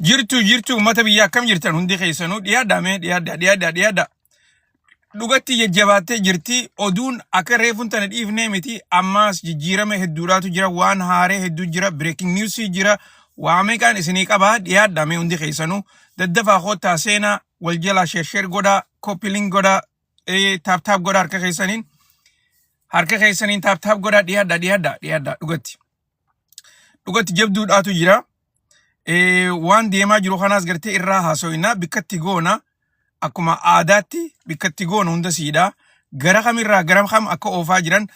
Jirtu jirtu uummata biyya akkam jirtan hundi keessanuu dhiyaadhaa mee dhiyaadhaa dhiyaadhaa dhiyaadhaa. dhugatti jajjabaattee jirti. Oduun akka reefuun tana dhiifnee miti. Ammaas jijjiirama hedduudhaatu jira. Waan haaree hedduu jira. Breaking news jira. Waa meeqaan isinii qaba. Dhiyaadhaa mee hundi keessanuu. Daddafaa koottaa seenaa wal jalaa sheersheer godhaa. Koppiliin godhaa. eh, Taap taap godhaa harka keessaniin. Harka keessaniin taap taap godhaa. Dhiyaadhaa dhiyaadhaa dhiyaadhaa dhugatti. dhugatti jabduudhaatu jira. Eh, Waan deemaa jiru kanaas gartee irraa haasoinaa bikkatti goona akkuma aadaatti bikkatti goona hunda siidha. Gara kamirraa gara kam akka oofaa jiran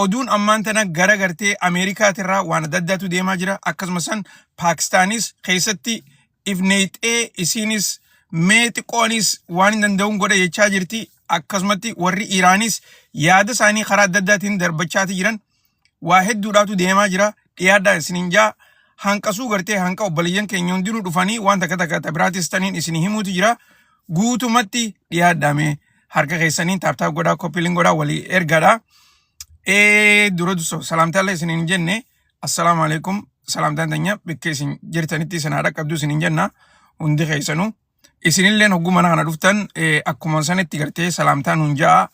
oduun ammaan tana gara gartee Ameerikaatirraa waan adda addaatu deemaa jira. Akkasumas san Paakistaanis keessatti ifneexee isiinis mee xiqqoonis waan hin danda'uun godha jechaa jirti. Akkasumatti warri Iraanis yaada isaanii karaa adda addaatiin darbachaati jiran. waa hedduudhaatu deemaa jira dhiyaadhaa isiniin jaa hanqasuu gartee hanqa obboleeyyan keenya hundinuu dhufanii waan takka takka ta biraatis taniin isinii himuutu jira guutumatti dhiyaadhaame harka keessaniin taaptaap godhaa koppiliin godhaa walii ergaadha ee dura duso salaamtaallee isiniin hin jenne assalaamu alaikum salaamtaan tanya bakka isin jirtanitti isin haa dhaqqabdu isiniin jenna hundi keessanuu isinilleen hogguu mana kana dhuftan eh, akkuma sanitti gartee salaamtaan hunjaa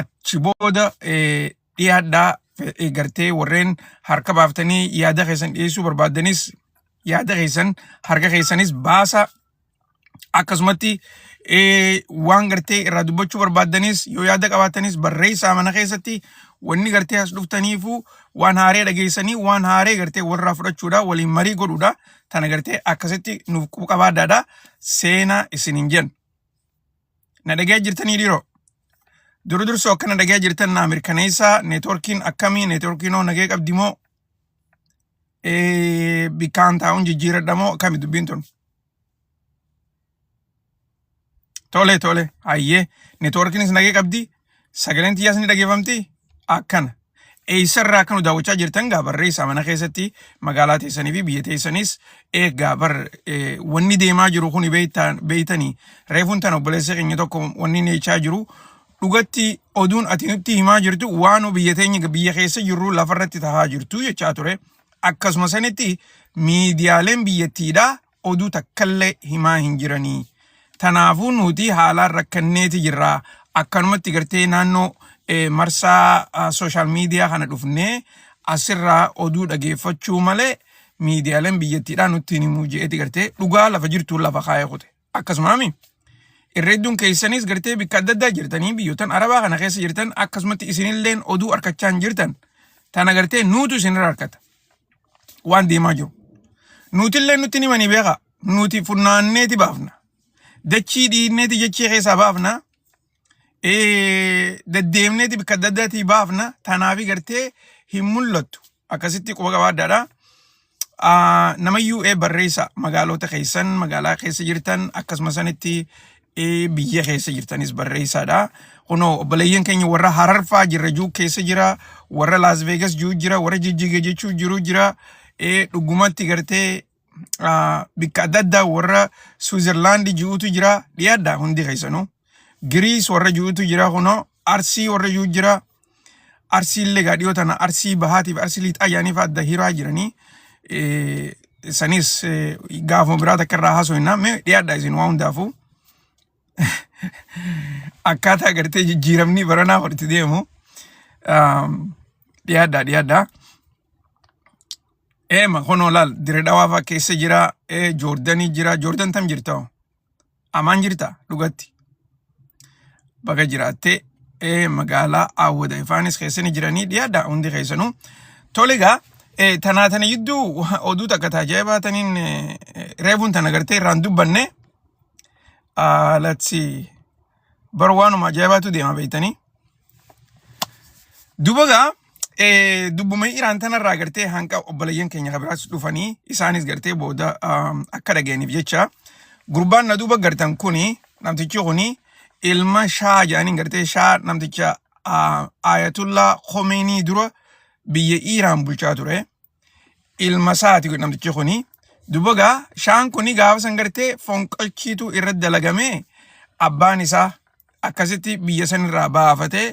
achi booda eh, dhiyaadhaa fe- gartee warreen harka baaftanii yaada keessan dhiyeessuu barbaaddanis yaada keessan harka keessanis baasa akkasumatti eh, waan gartee irraa dubbachuu barbaaddanis yoo yaada qabaatanis barreessaa mana keessatti wanni gartee as dhuftaniifuu waan haaree dhageessanii waan haaree gartee walirraa fudhachuudha waliin marii godhuudha tana gartee akkasitti nuuf qabaaddaadha seenaa isin hin jennu. Na dhaga'ee jirtanii dhiiroo? Duru dursoo akka na dhaga'ee jirtan naa mirkaneessaa. Neetwoorkiin akkamii? Neetwoorkiin hoo nagee qabdi moo? Eh, Bikkaan taa'uun jijjiiradha moo? Akkami dubbiin tun? Tole tole. Hayyee. Neetwoorkiinis nagee qabdi. sagaleen tiyyaas ni dhageeffamti akkana. Eessarraa akka nu daawwachaa jirtan gaa barreessaa mana keessatti magaalaa teessanii fi biyya teessanis eegaa bar wanni deemaa jiru kun beeytanii reefuun tan obboleessa keenya tokko wanni neechaa jiru dhugatti oduun ati nutti himaa jirtu waan biyya teenya biyya keessa jirru lafarratti tahaa jirtu jechaa ture. Akkasuma sanitti miidiyaaleen biyyattiidhaa oduu takkallee himaa hin jiranii. Tanaafuu nuti haalaan rakkanneeti jirra. Akkanumatti gartee naannoo eh, marsaa ah, sooshaal miidiyaa kana dhufnee asirraa oduu dhageeffachuu malee miidiyaaleen biyyattiidhaa nutti hin himuu je'eeti gartee dhugaa lafa jirtuun lafa kaayee kute. Akkasumaami. Irra hedduun keessanis gartee bikka adda addaa jirtanii biyyoottan arabaa kana keessa jirtan akkasumatti isinilleen oduu arkachaa hin jirtan. Tana gartee nuutu isinirra harkata. waan deemaa jiru. Nuutillee nutti himanii beekaa. Nuti funnaanneeti baafna. Dachii dhiinneeti jechee keessaa baafna. Eh, Deddeemneeti bakka adda addaatii baafna. Tanaafi gartee hin mul'attu. Akkasitti quba qabaaddaadha. Ah, namayyuu ee barreessa magaalota keessan magaalaa keessa jirtan akkasuma sanitti Eh, biyya keessa jirtanis barreessaadha. Kunoo obboleeyyan keenya warra hararfaa jirra juu keessa jira, warra Las Vegas juu jira, warra jijjiga jechuu jiru jira. Eh, Dhugumatti gartee ah, bikka adda addaa warra Switzerland ji'uutu jira. Dhiyaadha hundi keessanuu. Giriis warra ji'uutu jira kunoo. Arsii warra ji'u jira. Arsii illee gaadhiyoo tana arsii bahaatiif arsii liixaa yaaniif adda hiraa jiranii sanis gaafuma biraa takka irraa haasofna mee dhiyaadha isin waa hundaafuu akkaataa agartee jijjiiramni baranaa walitti deemu dhiyaadha dhiyaadha. Eema kunoo laal dire dhawaafaa keessa jira joordanii jira joordan tam jirta Amaan jirta dhugatti. Baga jiraattee eh, magaalaa Awwada Ifaanis keessani jiranii dhiyaadha hundi keessanuu. Tole egaa eh, tanaa tana jidduu oduu takka taajaa baataniin eh, eh, reefuun tana gartee irraan dubbanne. Ah, let's see. Bara waanuma ajaa'ibaatu deema beektanii. Duba gaa eh, dubbuma Iraan tanarraa gartee hanqa obboleeyyan keenya kan biraas dhufanii isaanis gartee booda ah, akka dhaga'aniif jecha gurbaan na duuba gartan kuni namtichi kuni ilma shaa jedhaniin gartee shaa namticha ah, Ayatullah Khomeini dura biyya Iraan bulchaa ture. ilma isaati namtichi kuni duba gaa shaan kuni gaafa san gartee fonqolchiitu irra dalagamee abbaan isaa akkasitti biyya san irraa baafatee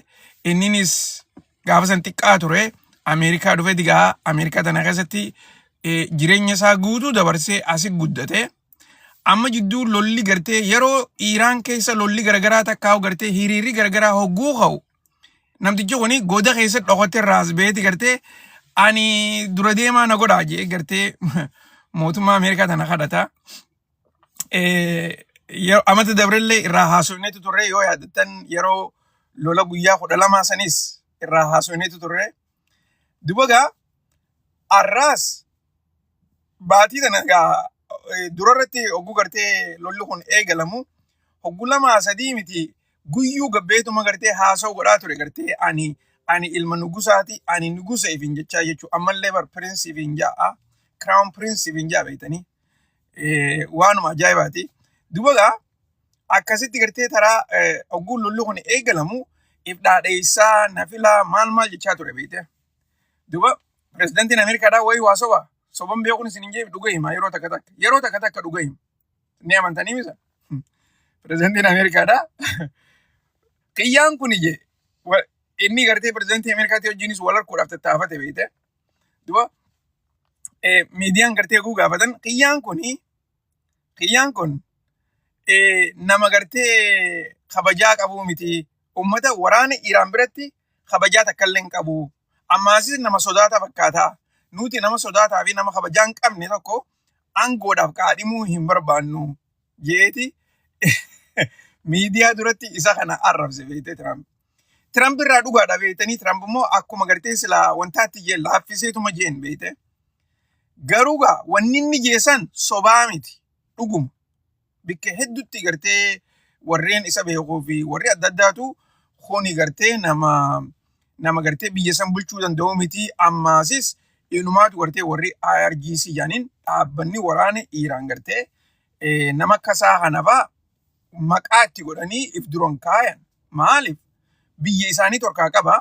inninis gaafa san xiqqaa ture Ameerikaa dhufee digaa Ameerikaa tana keessatti eh, jireenya isaa guutuu dabarsee asi guddate amma jidduu lolli gartee yeroo Iiraan keessa lolli garagaraa takkaa gartee hiriirri garagaraa hogguu ka'u Namtichi kuni goda keessa dhokotte irraa as ba'eeti gartee ani dura deemaa na godhaa jee gartee mootummaa Ameerikaa tana kadhata. Eh, yeroo amata dabrellee irraa haasofneetu turre yoo yaadattan yeroo lola guyyaa kudha lamaa sanis irraa haasofneetu turre. Dubagaa arraas baatii kana egaa eh, dura irratti hogguu gartee lolli kun eegalamu hoggu lamaa sadii miti guyyuu gabbeetuma gartee haasa'u godhaa ture gartee ani ani ilma nugusaati ani nugusa ifin jechaa jechuu ammallee bar piriinsi ifin ja'a kiraawun piriinsi ifin ja'a beektanii eh, waanuma ajaa'ibaati. Dubagaa akkasitti gartee taraa ogguun lolli kun eegalamu if dhaadheessaa na filaa maal maal jechaa ture beekte. Duuba pirezidantiin Ameerikaadhaa wayii waa soba soban beekuun isin hin jeef dhuga hima yeroo takka takka yeroo takka takka dhuga hima. Ni amantanii misa? Pirezidantiin Ameerikaadhaa xiyyaan kun ije inni gartee pirezidantii Ameerikaatii wajjinis wal harkuudhaaf tattaafate beekte. Duuba miidiyaan gartee oguu gaafatan xiyyaan kun Kiyyaan kun nama gartee kabajaa qabuu miti. Uummata waraana Iraan biratti kabajaa takka illee hin qabu. Ammaasis nama sodaata fakkaata. Nuti nama sodaataa fi nama kabajaa hin qabne tokko aangoodhaaf kaadhimuu hin barbaannu jeeti miidiyaa duratti isa kana arrabse beekte Tiraamp. Tiramp irraa dhugaadha beektanii Tiramp immoo akkuma gartee silaa wantaatti jeen laaffiseetuma jeen beekte. Garuu gaa wanni inni jeesan sobaa miti dhuguma. Bikka hedduutti gartee warreen isa beekuu fi warri adda addaatu kuni gartee nama nama gartee biyya san bulchuu danda'u miti ammaasis inumaatu gartee warri IRGC jedhaniin dhaabbanni waraana Iiraan gartee eh, nama kasaa kanafaa maqaa itti godhanii if duran kaayan. Maaliif? Biyya isaanii torkaa qaba.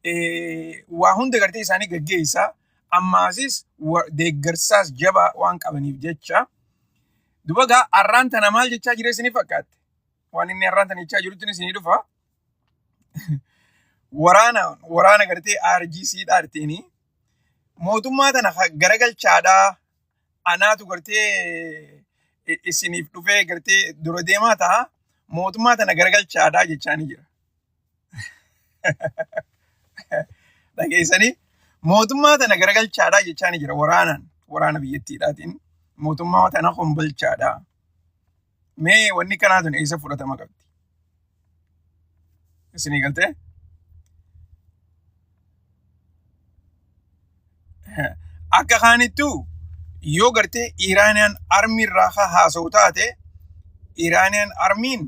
Eh, Waa hunda gartee isaanii gaggeessa. Ammaasis wa- deeggarsaas jabaa waan qabaniif jecha. Duba gaa arraan tana maal jechaa jira isinii fakkaatte? Waan inni arraan tana jechaa jirutti isinii dhufa. Waraana waraana gartee RGC dhaarteenii mootummaa tana ha- garagalchaadhaa anaatu gartee i- isiniif dhufee gartee dura deemaa ta'a mootummaa tana garagalchaadhaa jechaanii jira. Dhageessanii mootummaa tana garagalchaadhaa jechaanii jira waraanaan waraana biyyattiidhaatiin mootummaa tana hombalchaadhaa. Mee wanni kanaa tun eessa fudhatama qabdi? Isinii galtee? Akka kaanittuu yoo gartee Iraaniyaan armii irraa haa haasa'u taate Iraaniyaan armiin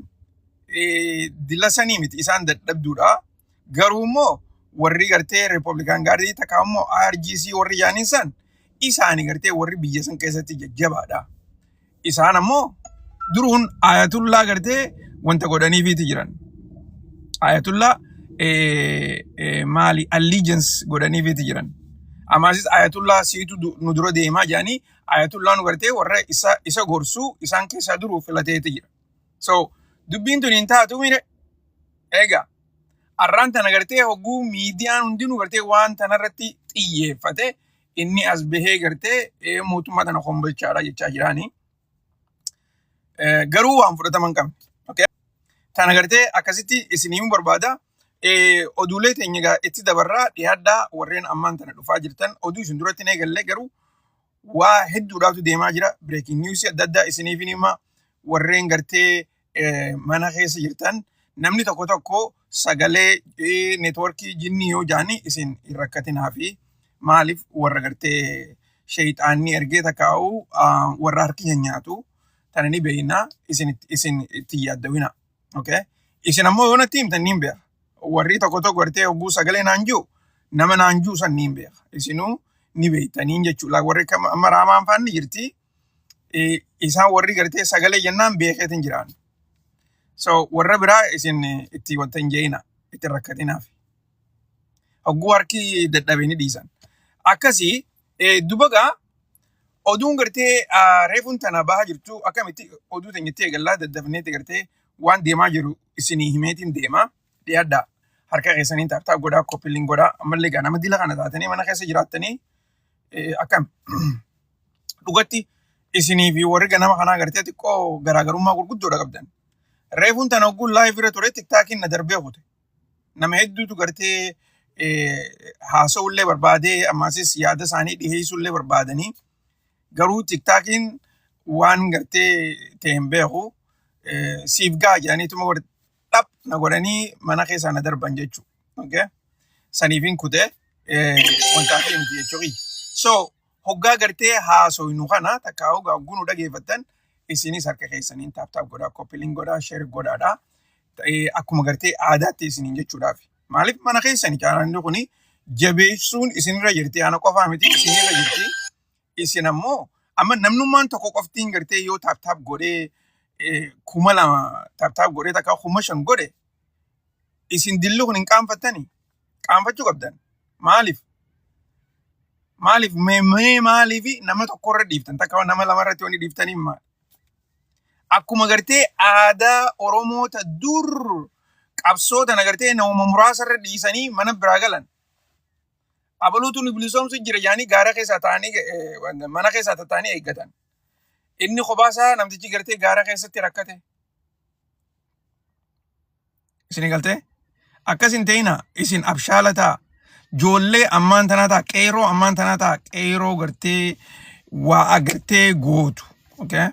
eh, dilasanii miti isaan dadhabduudha. Garuu immoo warri gartee Riippablikaan Gaardii takka immoo IRGC warri jaaniin san isaani gartee warri biyya san keessatti jajjabaadha. Isaan ammoo duruun ayatullaa gartee wanta godhaniifiiti jiran. Ayatullaa eh, eh, maali allegiance godhaniifiiti jiran. Amaasis ayatullaa siitu du- nu dura deemaa jedhanii ayatullaa nu gartee warra isa, isa gorsuu isaan keessaa duruu filateeti jira. So dubbiin tun hin taatu mire egaa arraan tana gartee hogguu miidiyaan hundinuu gartee waan tanarratti xiyyeeffate inni as bahee gartee ee, mootummaa tana kombolchaadha jechaa jiraani. Eh, Garuu waan fudhatama hin qabne. Okay? Tana gartee akkasitti isiniin barbaada. Eh, Oduulee teenya egaa itti dabarraa dhiyaadhaa warreen ammaan tana dhufaa jirtan oduu isin duratti hin eegalle garuu waa hedduudhaatu deemaa jira. Breaking news adda addaa isiniif hin hima. Warreen gartee eh, mana keessa jirtan namni tokko tokko sagalee eh, networkii jinnii yoo jaani isin hin rakkatinaa fi maaliif warra gartee sheeyxaanni ergee takkaa'u ah, warra harki hin nyaatu tana ni beeyna isin itti- isin itti yaaddawina okay isin ammoo yoo natti himtan niin beeka warri tokko tokko gartee hogguu sagalee naan jiru nama naan jiru san niin beeka isinuu ni beektaniin jechuudha warri kam- amma raamaan faanni jirti isaan warri gartee sagalee jennaan beekeetiin jiraan. So warra biraa isin itti wanta hin jee'ina itti rakkatinaaf. Hogguu harki dadhabee ni dhiisan. Akkasii dubagaa oduun gartee reefuun tana bahaa jirtu akkamitti oduu teenya itti eegallaa daddafneeti gartee waan deemaa jiru isinii himeetiin deema dhiyaadhaa harka keessaniin taartaa godhaa koppiliin godhaa ammallee gaa nama dila kana taatanii mana keessa jiraattanii Eh, Akkam dhugatti isinii fi warri ganama kanaa gartee xiqqoo garaagarummaa gurguddoodha qabdan. Reefuun tana ogguun laayif irra ture tiktaakiin na darbee kute. Nama hedduutu gartee eh, haasa'ullee barbaadee ammaasis yaada isaanii dhiheessullee barbaadanii garuu tiktaakiin waan gartee ta'e hin beeku. Eh, Siif ga'a jedhaniituma warri dhap na godhanii mana keessaa na darban jechuu okay? saniifin kutee eh, wanta akka himti jechuu kiyya so hoggaa gartee haasoynu kana takka hoggaa gunu dhageeffattan isinis harka keessaniin taaptaap godhaa koppiliin godhaa sheer godhaadhaa ta'ee akkuma gartee aadaatti isiniin jechuudhaaf. Maaliif mana keessani caalaan kuni jabeessuun isinirra jirti. Ana qofaa miti isinirra jirti. Isin ammoo amma namnummaan tokko qoftiin gartee yoo taaptaap godhee eh, kuma lama taaptaap godhee takka kuma shan godhe isin dilli kun hin qaanfattani qaanfachuu qabdan maaliif maaliif mee mee maaliif nama tokko irra dhiiftan takka nama lama irratti wanni dhiiftanii maal akkuma gartee aadaa oromoota dur qabsoo tana gartee nama muraasa irra dhiisanii mana biraa galan Abaluutu nu bilisoomsu jira jedhanii gaara keessaa ta'anii eh, mana keessaa ta'anii eeggatan. Inni kophaa isaa namtichi gartee gaara keessatti rakkate. Isin galtee? Akkas hin ta'ina isin abshaala ta'a. Joollee ammaan tanaa ta'a. Qeeroo ammaan tanaa ta'a. Qeeroo gartee waa agartee gootu. Okay?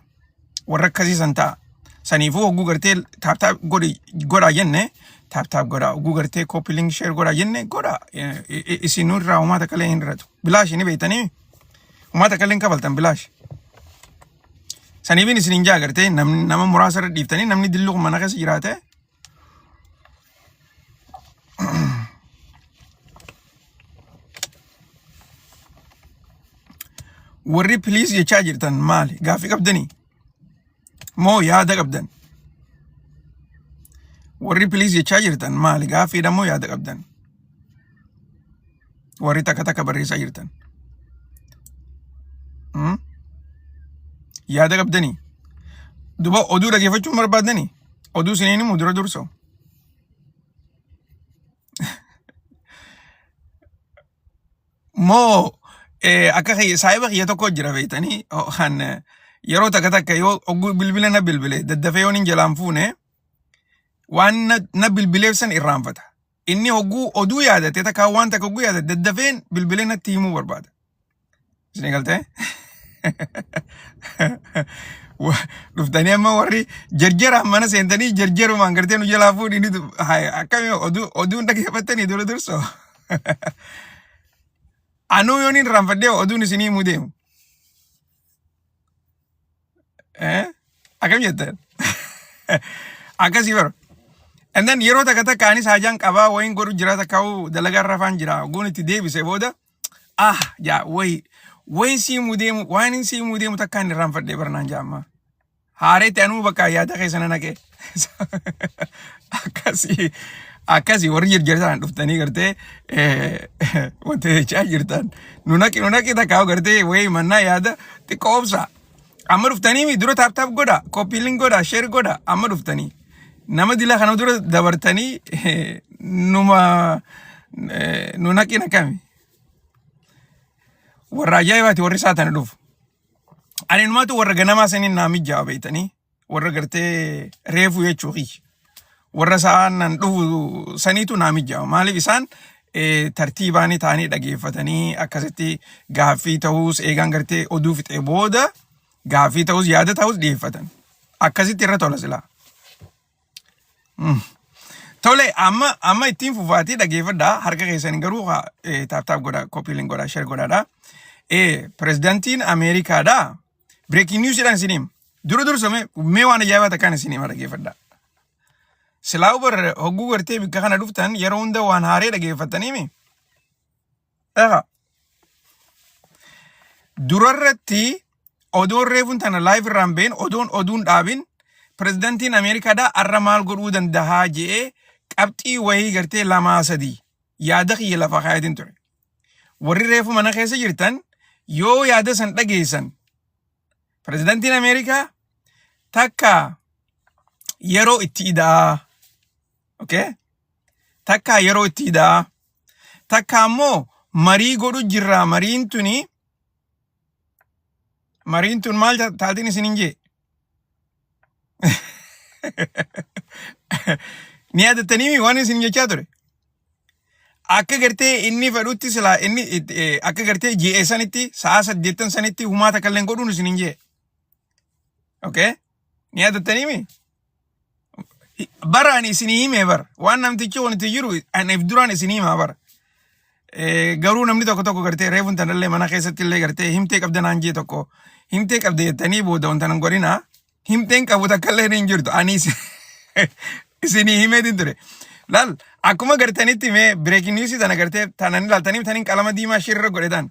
warra akkasii san ta'a. Saniifuu hogguu gartee taaptaap godhi godhaa jenne taaptaap godhaa hogguu gartee kooppi link sheer godhaa jenne godhaa Eh, eh, isin irraa homaa takka illee hin irratu. Bilaash ni beektanii homaa takka illee hin kafaltan bilaash. Saniifin isin hin jaa gartee namni nama muraasa irra dhiiftanii namni dilluun mana keessa jiraate warri piliis jechaa jirtan maali gaaffii qabdanii moo yaada qabdan warri piliis jechaa jirtan maali gaaffiidha moo yaada qabdan warri takka takka barreessaa jirtan. Hmm? Yaada qabdanii? Duba oduu dhageeffachuun barbaaddanii? Oduu isiniin himu dura dursa. Moo eh, akka kiyya saahiba kiyya tokko jira beektanii oh, kan eh, yeroo takka takka yoo oguu bilbila na bilbile daddafee yoon hin jalaan fuune waan na, na bilbileef san irraanfata. Inni hogguu oduu yaadate takkaa waan takka hogguu yaadate daddafeen bilbilee natti himuu barbaada. Isin galtee? Dhuftanii amma warri jarjaraan mana seentanii jarjarumaan gartee nu jalaa fuudhini akkamii oduu oduun dhaggeeffattanii dura dursoo. Anuu yoon hin raanfadhee oduun isinii himuu deemu. Eh? Akkam jetteen? Akkasii bara. And then yeroo takka takka anis haajaan qabaa wayin godhu jira takka hoo dalagaa irra faan jira. Guun itti deebise booda ah jaa wayi wayin sii mudeemu waan hin sii mudeemu takka hin irraanfadhee barnaan jaamma. Haareetti anuu bakka yaada keessa na naqee. akkasii akkasii warri jirjirtaan dhuftanii gartee wanti jechaa jirtan nu naqi nu naqi takkaa gartee wayii mannaa yaada xiqqoo obsaa amma dhuftanii mi dura taap taap godha koppiilin godha sheer godha amma dhuftanii nama dilaa kana dura dabartanii numa nu naqi naqami warra ajaa'ibaati warri isaa tana dhufu ani numaatu warra ganamaa saniin naa mijjaa beeytanii warra gartee reefu jechuu kiyya. Warra sa'aanan dhufu saniitu naa mijaa'u. Maaliif isaan eh, tartiibaanii taa'anii dhageeffatanii akkasitti gaaffii ta'us eegaan gartee oduu fixee booda gaaffii ta'us yaada ta'us dhiyeeffatan. Akkasitti irra tola silaa. Tole amma amma ittiin fufaatii dhageeffadhaa harka keessan garuu haa, eh, taaptaap godhaa kopiilin godhaa sheer godhaadhaa. Eh, Pirezidantiin Ameerikaadhaa Breaking news dhaan isin hima. Dura dursa mee mee waan ajaa'ibaa takkaan isin hima dhaggeeffadhaa. Silaa ubar hogguu gartee bikka kana dhuftan yeroo hunda waan haaree dhaggeeffattanii mi? Dhagaa. Durarratti odoon reefuun tana live irraan been odoon oduun dhaabin pirezidantiin Ameerikaadhaa arra maal godhuu dandahaa je'ee qabxii wayii gartee lamaa sadii yaada kiyya lafa kaayatiin ture. warri reefu mana keessa jirtan yoo yaada san dhageessan pirezidantiin Ameerikaa takka yeroo itti idaa okay? takka yeroo itti idaa takka ammoo marii godhu jirraa mariin tuni Mariin tun maal ja- taatiin isin hin jee? Ni yaadatanii waan isin jechaa ture. Akka gartee inni fedhutti silaa inni it- eh, akka gartee GA sanitti sa'a saddeettan sanitti humaata kalleen godhuun isin hin jee. Okay? Ni yaadattanii mi? Bara ani isinii hime bara. Waan namtichi kun itti jiru ani if duraan isinii himaa bara. Eh, Garuu namni tokko tokko gartee reefuun tanallee mana keessatti illee gartee himtee qabda naan jee tokko himtee qabda jettanii booda wanta nan godhina himteen qabu takka illee hin jirtu ani isin- isinii himee din ture. Laal akkuma gartanitti mee bireekin niwusii tana gartee tanan ilaaltanii tanin qalama diimaa shirra godhetan.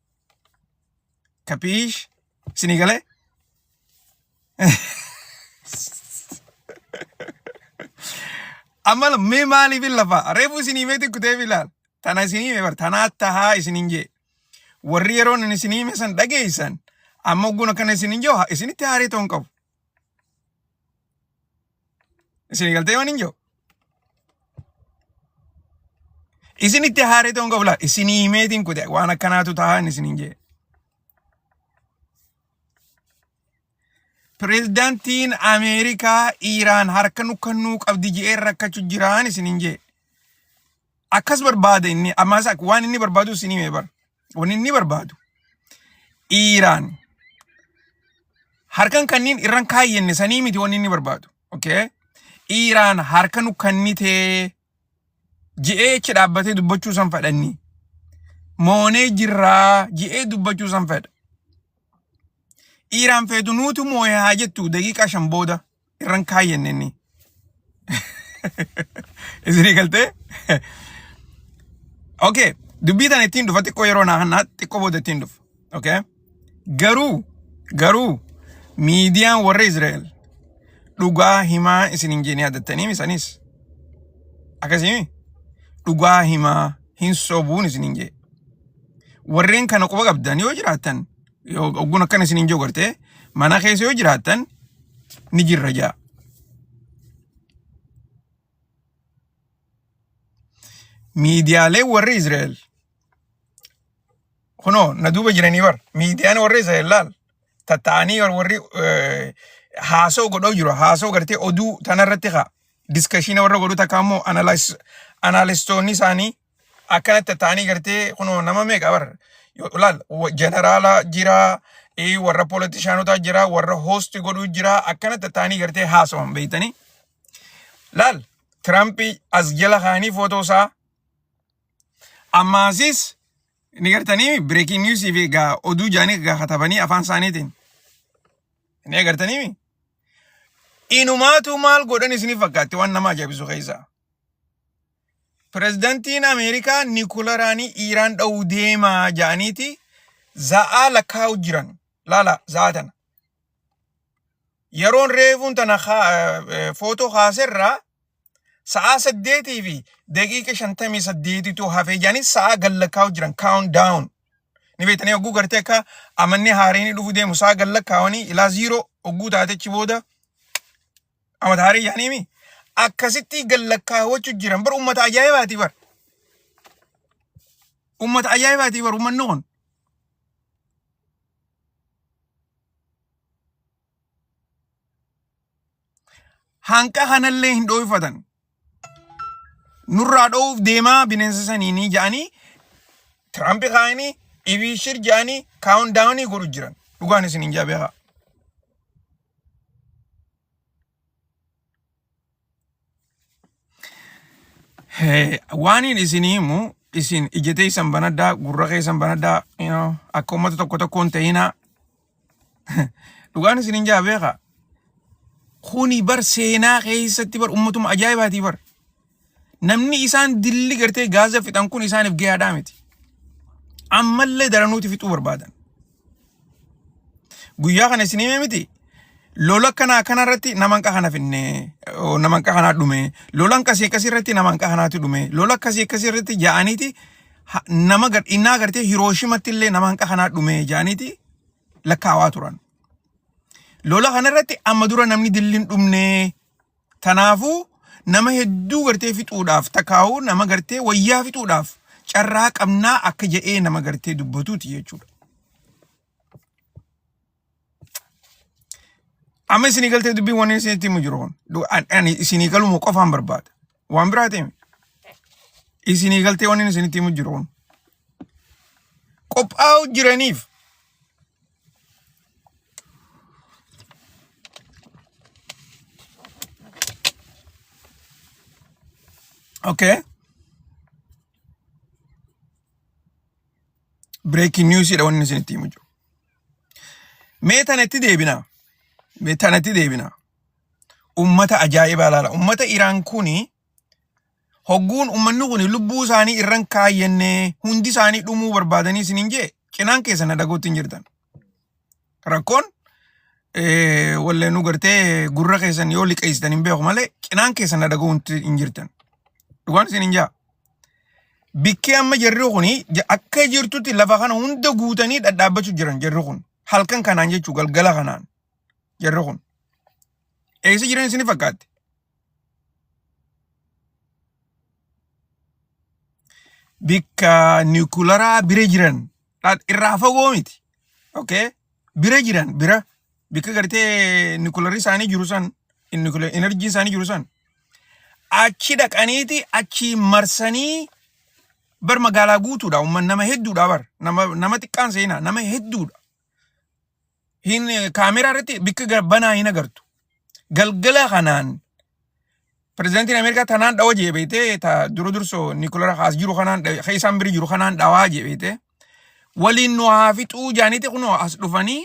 Kapiish? Isinii galee? Amma mee maaliif hin lafaa? Reefu isinii mee xiqqutee bilaal. Tana isinii mee bar tanaa tahaa isiniin jee. Warri yeroon isinii mee san dhageessan amma ogguun akkana isiniin jee isinitti haarii ta'uu hin qabu. Isin galtee waan hin jiru. Isin itti haaree ta'uun qabla. Isin himeetiin kute waan akkanaatu taa'an isin hin jee. Pireezidaantiin Ameerikaa Iiraan harka nu kennuu qabdi je'ee rakkachu jiraan isin hin jee. Akkas barbaada inni ammaas akka waan inni barbaadu isin hime bar. Wanni inni barbaadu Iiraan harkan kanniin irran kaayyenne sanii miti wanni inni barbaadu. Okay? Iiraan harka nu kannitee ji'ee achi dhaabbatee dubbachuu san fedhanni. Moonee jirraa ji'ee dubbachuu san fedha. Iiraan feetu nuutu moo'ee haa jettu daqiiqaa shan booda irran kaayyanne inni. Isinii galtee? Okay. Dubbii tana ittiin dhufa xiqqoo yeroo naa hannaa xiqqoo booda ittiin dhufa. Okay. Garuu garuu miidiyaan warra Israa'el dhugaa himaa isin hin jeenee addattaniim isanis akkasii dhugaa himaa hin sobuun isin hin jee. Warreen kana quba qabdan yoo jiraattan Yoo ogguun akkana isiniin jiru gartee mana keessa yoo jiraattan ni jirra jaa. Miidiyaalee warri Israa'el kunoo na duuba jiranii bar miidiyaan warri Israa'el laal tatta'anii warri eh, haasoo godhoo jiru haasoo gartee oduu tanarratti kaa diskashiina warra godhu takka ammoo analistoonni isaanii akkanatti taanii gartee kunoo nama meeqa bar yoo ilaal jeneraala jira ee, warra poolitishaanotaa jira warra hoosti godhuu jira akkanatti taanii gartee haasawan beektanii laal Tiraampi as jala kaanii footoo isaa ammaasis ni gartanii bireekiin niwusii fi egaa oduu jaanii egaa katabanii afaan isaaniitiin ni agartanii inumaatu maal godhan isiniif fakkaatti waan nama ajaa'ibisu keessaa. Pirezidantiin Ameerikaa Nikularaanii Iiraan dha'uu deemaa ja'aniiti za'aa lakkaa'u jiran. Laala za'aa tana. Yeroon reefuun tana footoo kaaserraa sa'aa saddeetii fi daqiiqa shantamii saddeetitu hafee ja'anii sa'aa gad lakkaa'u jiran. Count down. Ni beektanii hogguu gartee akka amanni haareenii dhufu deemu sa'aa gad lakkaa'anii ilaa ziiroo hogguu taatechi booda Amataarii yaaniimi akkasitti gallakkaawwachu jiran bar ummata ajaa'ibaati bar ummata ajaa'ibaati bar ummanni kun hanqa kanallee hin dhooyfatan nurraa dho'uuf deemaa bineensa saniinii ja'anii Tiraampi kaa'anii ibiishir ja'anii kaawun daawunii godhu jiran dhugaan isin hin jabeekaa. Waaniin isin himu isin ija teessan banaddaa gurra keessan banaddaa you know, akka uummata tokko tokkoon ta'inaa Dhugaan isin hin jaa beekaa. Kuni bar seenaa keessatti bar ummatuma ajaa'ibaati bar. Namni isaan dilli gartee gaaza fixan kun isaaniif gahaadhaa miti. Ammallee daranuuti fixuu barbaadan. Guyyaa kana isin himee miti. Lola kanaa kanarratti naman qahana finne, oo, naman qahanaa dhume, lolan kasii akkasii irratti naman qahanaatu dhume, lola akkasii akkasii irratti ja'aniiti ha- nama gar- innaa agartee Hirooshimatti illee nama hanqa kanaa dhumee jaaniiti lakkaawaa turan. Lola kanarratti amma dura namni dilli hin dhumnee tanaafuu nama hedduu gartee fixuudhaaf takaa'uu nama gartee wayyaa fixuudhaaf carraa qabnaa akka jedhee nama gartee dubbatuuti jechuudha. Amma isinii galtee dubbiin wanni isin itti himu jiru kun. Du- an- Ani isinii galumu qofaan barbaada. Waan biraa ta'e isinii galtee wanni isin itti himu jiru kun. Qophaa'u jiraniif okay. Breaking news dha wanni isin itti himu jiru. Mee tana itti deebina. Mee tana itti deebina. Ummata ajaa'ibaa laala. Ummata Iraan kuni hogguun ummanni kuni lubbuu isaanii irran kaayyannee hundi isaanii dhumuu barbaadanii isin hin jee cinaan keessa na dhaguutti hin jirtan. Rakkoon eh, wallee nu gartee gurra keessan yoo liqeessitan hin beeku malee cinaan keessa na dhaguutti hin jirtan. Dhugaan isin hin jaa. Bikki amma jarri kun akka jirtutti lafa kana hunda guutanii dhadhaabbachuu jiran jarri kun. Halkan kanaan jechuu galgala kanaan jarri kun. Eessa jiran isin fakkaatti? Bikka niwukularaa bira jiran Laat irraa fagoo miti. Okay? Bira jiran bira bakka gartee nukilarii isaanii jiru san nukilar enerjii isaanii jiru san achi dhaqaniiti achi marsanii bar magaalaa guutuudha umman nama hedduudha bar nama nama xiqqaan seenaa nama hedduudha hin kaameraa irratti bikka gara banaa hin agartu. Galgala kanaan pirezidantiin Ameerikaa tanaan dhawa jee beeytee ta dura dursoo Nikulara kaas jiru kanaan dhawe- ka isaan biri jiru kanaan dhawaa jee beeytee waliin nu haa fixuu jaaniiti kunoo as dhufanii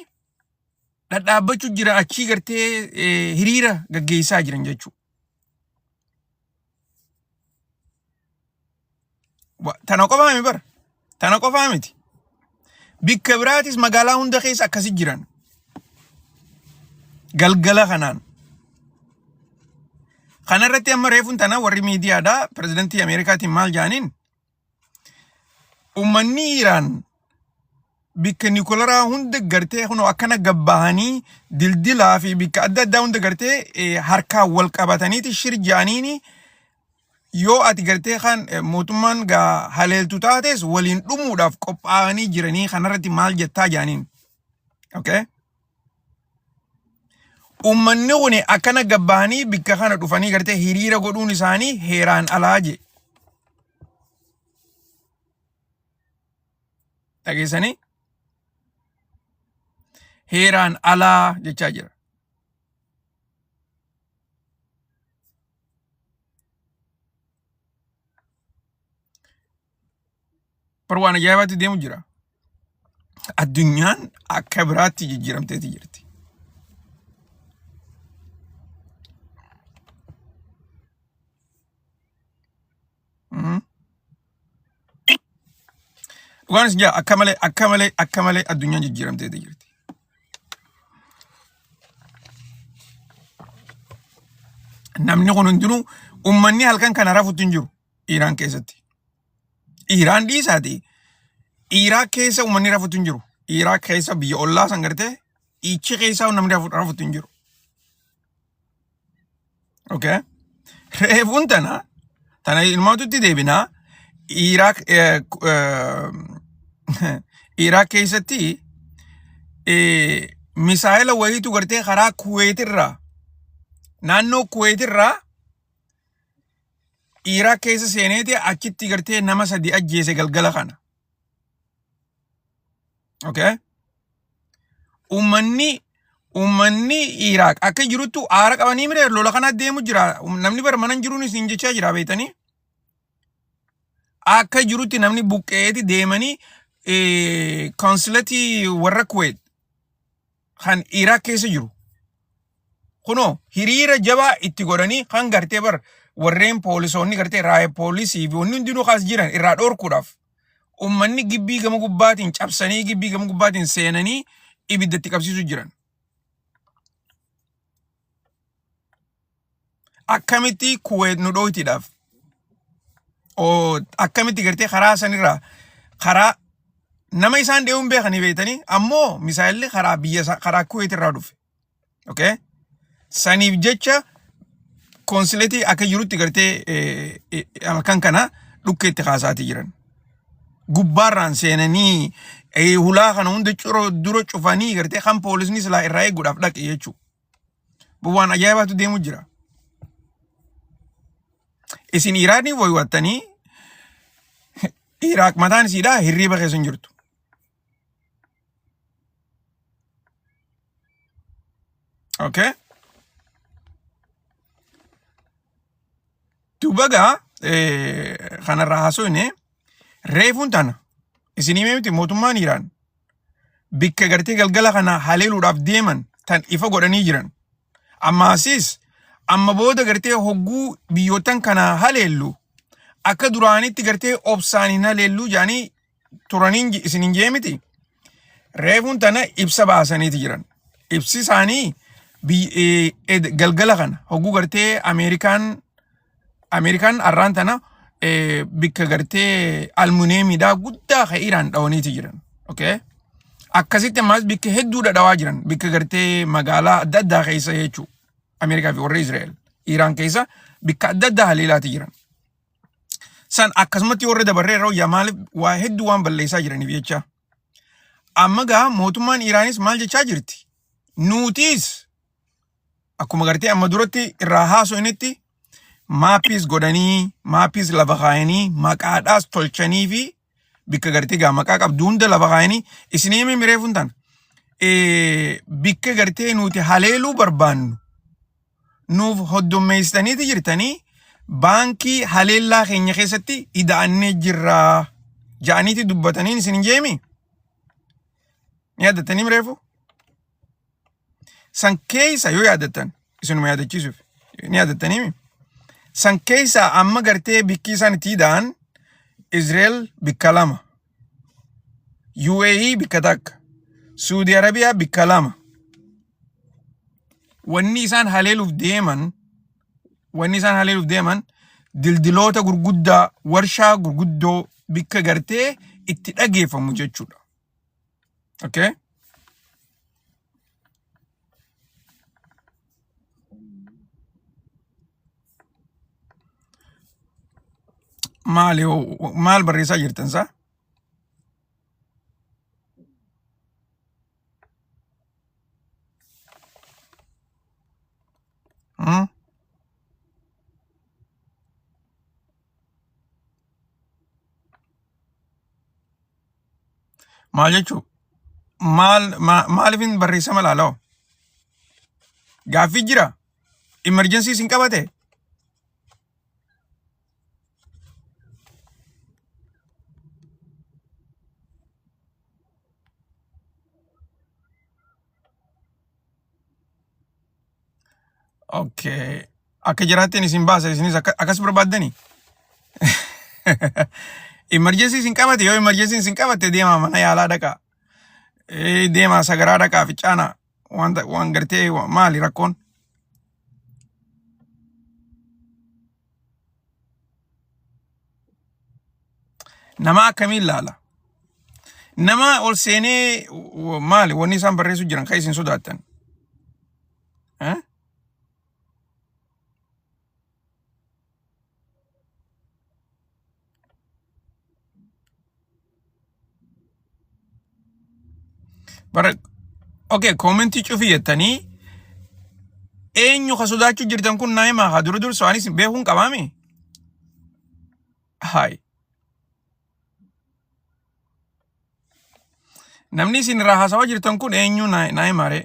dhadhaabbachuu jira achii gartee eh, hiriira gaggeessaa jiran jechuudha. Wa- Tana qofaa miti bara. Tana qofaa miti. Bikka biraatis magaalaa hunda keessa akkasi jiran. Galgala kanaan. Kana irratti amma reefuun tana warri miidiyaadhaa pirezidantii Ameerikaatiin maal jaaniin ummanni Iraan bikka nikolaraa hunda gartee kunoo akkana gabbahanii dildilaa fi bikka adda addaa hunda gartee eh, harkaan wal qabataniiti shir jaaniini yoo ati gartee kan eh, mootummaan gaa haleeltu taates waliin dhumuudhaaf qophaa'anii jiranii kanarratti maal jettaa jaaniin. Okay? Uummanni kun akkana gabbahanii bikka kana dhufanii gartee hiriira godhuun isaanii heeraan alaa jee. Dhageessanii? Heeraan alaa jechaa jira. Bar waan ajaa'ibaatti deemu jira. Addunyaan akka biraatti jijjiiramteeti jirti. Mm. Dhugaan isin jaa akka malee akka malee akka malee addunyaan jijjiiramtee jirti. Namni kun hundinuu uummanni halkan kana rafutti hin jiru Iiraan keessatti. Iiraan dhiisaati. Iiraa keessa uummanni rafutti hin jiru. Iiraa keessa biyya ollaa san gartee ichi keessa namni rafu- rafutti hin jiru. Okay? Reefuun tana tana ilmaatutti deebinaa Iraaq eh, ku- eh, Iraaq keessatti eh, misaa'ela wayiitu gartee karaa Kuweetirraa naannoo Kuweetirraa Iraaq keessa seeneeti achitti gartee nama sadi ajjeese galgala kana. Okay? Uummanni uummanni Iraaq akka jirutti aara qabanii mire lola kana deemu jira. Namni bara mana hin jiruun isin jechaa jira beektanii. Akka jirutti namni buqqeeti deemanii eh, konsilatii warra Kuwait kan Iraaq keessa jiru. Kunoo hiriira jabaa itti godhanii kan gartee bar warreen poolisoonni gartee raayee poolisii fi wanni hundinuu kaas jiran irraa dhoorkuudhaaf. ummanni gibbii gama gubbaatiin cabsanii gibbii gama gubbaatiin seenanii ibidda itti qabsiisu jiran. Akkamitti kuweet nu dhooytiidhaaf akkamitti gartee karaa sanirraa karaa nama isaan deemuun beekanii beektanii ammoo misaayilli karaa biyya karaa kuweet irraa dhufe. okay saniif jecha konsiletii akka jirutti gartee eh, eh, halkan kana dhukkee itti kaasaatii jiran gubbaarraan seenanii eh, hulaa kana hunda curo dura cufanii gartee kan poolisni silaa irraa eeguudhaaf dhaqe jechuudha. Waan ajaa'ibaatu deemu jira. Isin Iraanii woywattanii Iraaq mataan isiidhaa hirriiba keessa hin jirtu. Okay? Duuba gaa kanarraa haasofne reefuun tana isin himee miti mootummaan Iraan bakka gartee galgala kana haleeluudhaaf deeman tan ifa godhanii jiran. Ammaasiis amma booda gartee hogguu biyyootan kana haleellu akka duraanitti gartee obsaan hin haleellu jedhanii turaniin ji- isin hin jee miti reefuun tana ibsa baasaniiti jiran ibsi isaanii biy- eh, ed- galgala kana hogguu gartee ameerikaan ameerikaan arraan tana eh, bikka gartee almuneemiidhaa guddaa ka iraan dhawaniiti jiran okay akkasitti ammaas bikka hedduudha dhawaa jiran bikka gartee magaalaa adda addaa keessa jechuu ameerikaa fi warra israa'el iraan keessa bikka adda addaa haleelaati jiran san akkasumatti warra dabarree yeroo yamaal waa hedduu waan balleessaa jiraniif jecha amma gaa mootummaan Iraanis maal jechaa jirti nuutiis akkuma gartee amma duratti irraa haasofnetti maappiis godhanii maappiis lafa kaayanii maqaadhaas tolchanii fi bikka gartee gaa maqaa qabdu hunda lafa kaayanii isinii himee miree funtaan bikka gartee nuti haleeluu barbaannu nuuf hoddommeessitaniiti jirtanii baankii haleellaa keenya keessatti ida'annee jirraa ja'aniiti dubbataniin isin hin jeemi ni yaadatanii mireefu san keessa yoo yaadattan isinuma yaadachiisuuf ni yaadattaniimi san keessa amma gartee bikkii isaan itti hidhaan Israel bikka lama UAE bikka takka Suudi Arabiyaa bikka lama wanni isaan haleeluuf deeman wanni isaan haleeluuf deeman dildiloota gurguddaa warshaa gurguddoo bikka gartee itti dhageeffamu jechuudha. Okay? maali maal barreessaa jirtan isaa Hmm? Maal jechuu? Maal ma- maaliifin barreessama laaloo? Gaaffii jira? Imerjensii isin qabate? Okay. Akka jiraatteen isin baasa isinis akka- akkas barbaaddani. Imarjeensii isin qabate yoo imarjeensiin isin qabatte deemaa mana yaalaa dhaqaa. Eh, Deemaa sagaraa dhaqaa ficaanaa. Waan ta- waan gartee wa- maali rakkoon? Nama akkamiin laala? Nama ol seenee w- maali wanni isaan barreessu jiran kan isin sodaattan? Eh? Bara okay koomentii cufii jettanii eenyu ka sodaachuu jirtan kun naa himaa haa dura dursu anis beekuun qabaami. Haay. Namni isin irraa haasawaa jirtan kun eenyu naa naa himaaree.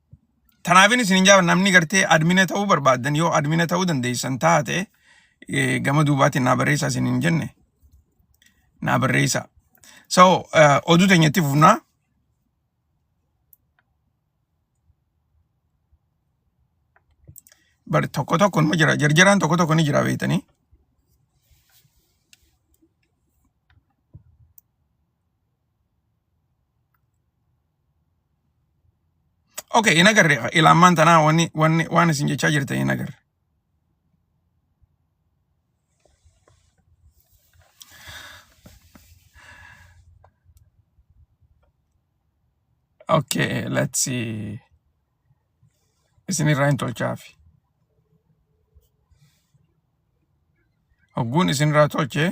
Tanaafin isin hin jaaba namni gartee admina ta'uu barbaaddan yoo admina ta'uu dandeessan taate eh, gama duubaatiin naa barreessaa isin hin jenne naa barreessaa. So eh, oduu teenyatti fufnaa bar tokko tokko numa jira jarjaraan tokko tokko ni jira beektanii. Okay, hin agarre ilaamaan tanaa wanni wanni waan isin jechaa jirtan hin agarre. Okay, let's see. Isin irraa hin tolchaafi. Hogguun isin irraa tolchee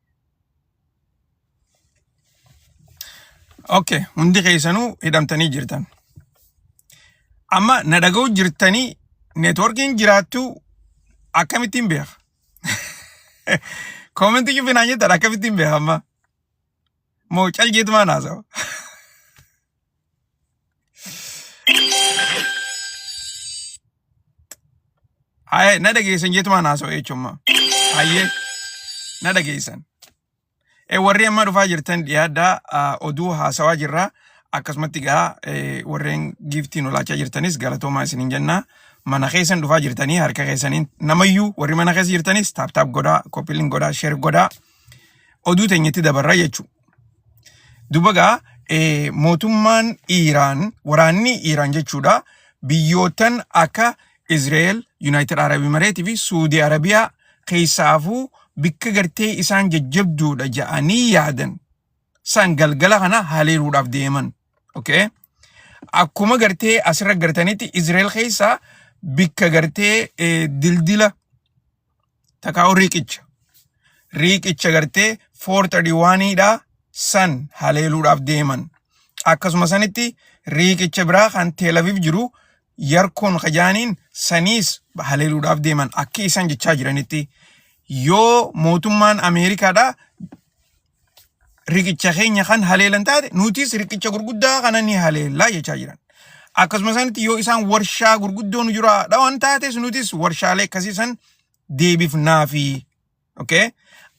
Okay, hundi keessanuu hidhamtanii jirtan. Amma na dhaga'u jirtanii neetworkiin jiraattuu akkamittiin beeka? Koomentii cufi naan jettan akkamittiin beeka amma? Moo cal jeetumaan haasawa? Haye na dhageessan jeetumaan haasa'u jechuummaa. Haye na dhageessan. E warri amma dhufaa jirtan dhiyaaddaa ah, oduu haasawaa jirra. Akkasumatti gaa eh, warreen giiftii nu laachaa jirtanis galatoomaa isiniin jennaa. Mana keessan dhufaa jirtanii harka keessaniin namayyuu warri mana keessa jirtanis taaptaap godhaa, koppiliin godhaa, sheer godhaa. Oduu teenyatti dabarra jechuudha. Duba gaa eh, mootummaan Iiraan waraanni Iiraan jechuudha biyyootan akka Izraa'el, Yuunaayitid Arab Imireetii fi Suudii Arabiyaa keessaafuu bikka gartee isaan jajjabduudha ja'anii yaadan san galgala kana haleeluudhaaf deeman. Okay? Akkuma gartee asirra gartanitti Izraa'el keessaa bikka gartee eh, dildila takaa'u riiqicha riiqicha gartee 431 dha san haleeluudhaaf deeman akkasuma sanitti riiqicha biraa kan teelaviif jiru yarkoon kajaaniin saniis haleeluudhaaf deeman akka isaan jechaa jiranitti yoo mootummaan ameerikaadha riqicha keenya kan haleelan taate nutis riqicha gurguddaa kana ni haleellaa jechaa jiran. Akkasuma isaanitti yoo isaan warshaa gurguddoo nu jiraa dhawan taates nutis warshaalee akkasii san deebifnaa fi okay?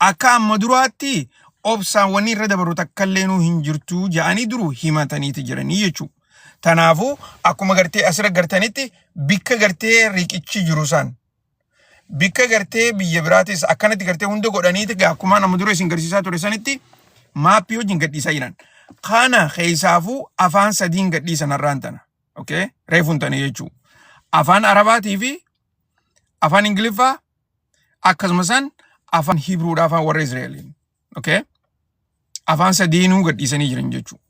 akka amma duraatti obsaan wanni irra dabaru takka illee nuu hin jirtu ja'anii duru himataniiti jiranii jechuudha. Tanaafuu akkuma gartee asirra gartanitti bikka gartee riqichi jiru san Bikka gartee biyya biraatis akkanatti gartee hunda godhaniiti gaa akkuma nama dura isin garsiisaa ture sanitti maappii wajjin gadhiisaa jiran. Kana keessaafuu afaan sadiin gadhiisan har'aan tana. Okay? Reefuun tana jechuu. Afaan Arabaatii fi afaan Ingiliffaa akkasuma san afaan Hibruudhaa afaan warra Israa'eliin. Okay? Afaan sadiinuu gadhiisanii jiran jechuu.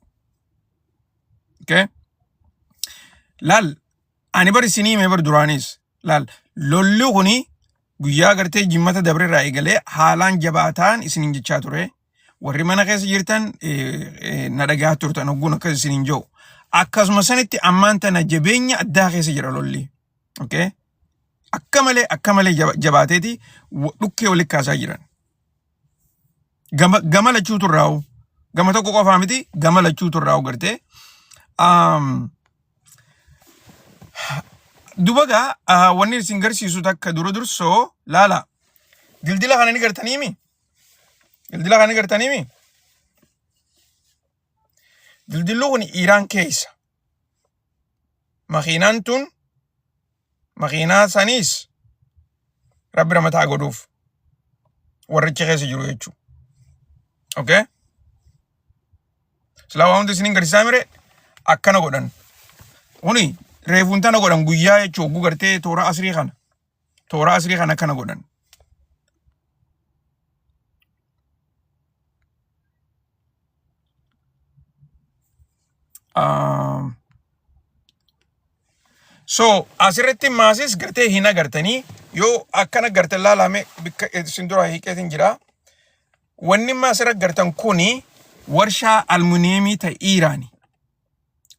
Okay? Laal Ani bar isinii hime bar duraanis laal lolli kuni guyyaa gartee jimmata dabre irraa eegalee haalaan jabaataan isiniin jechaa ture. Warri mana keessa jirtan eh, eh, na dhagahaa turtan ogguun akkas isiniin jedhu. Akkasuma sanitti ammaan tana jabeenya addaa keessa jira lolli. Okay? Akka malee akka malee jaba- jabaateeti wa- dhukkee walitti kaasaa jiran. Gama gama lachuu turraa'u. Gama tokko qofaa miti gama lachuu turraa'u gartee. Um, dubagaa ah, wanni isin garsiisu takka dura dursoo laala. Dildila kana ni gartaniimi? Dildila kana ni gartaniimi? Dildilli kun Iiraan keessa. makiinaan tun makiinaa saniis rabbi ramataa godhuuf warrichi keessa jiru jechuu okay silaa waa hundi isinin garsiisaa mire akkana godhan kuni reefuun tana godhan guyyaa jechuu oguu gartee toora asrii kana Tooraa asrii kan akkana godhan. Um, so asirratti maasis gartee hin agartanii yoo akkana garte laalame bikka isin dura hiikeetiin jira. Wanni maasira gartan kuni warshaa almuuniyeemii ta Iiraani.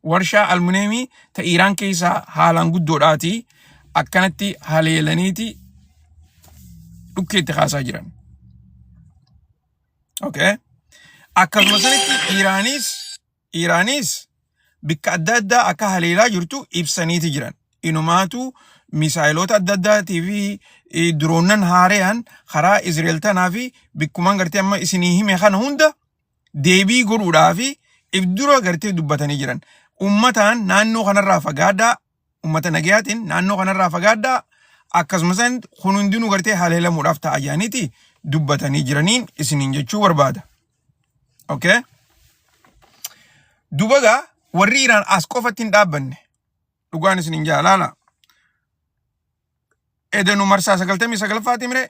warshaa almuneemii ta Iiraan keessaa haalaan guddoodhaati akkanatti haleelaniiti dhukkeetti kaasaa jiran. Okay. Akkasuma sanitti Iiraanis Iiraanis bikka adda addaa akka haleelaa jirtu ibsaniiti jiran. Inumaatu misaayiloota adda addaatii fi eh, diroonnan haarayaan karaa Izreel tanaa fi bikkumaan gartee amma isinii hime kana hunda deebii godhuudhaaf ibdura gartee dubbatanii jiran. Ummataan naannoo kanarraa fagaadhaa, ummata nagayaatiin naannoo kanarraa fagaadhaa, akkasumas kun hundinuu gartee haleelamuudhaaf ta'a jedhaniiti dubbatanii jiraniin isiniin jechuu barbaada. Okay? Dubagaa warri Iraan as qofatti hin dhaabbanne dhugaan isiniin jaa laala. Edanu marsaa sagaltamii sagalffaati mire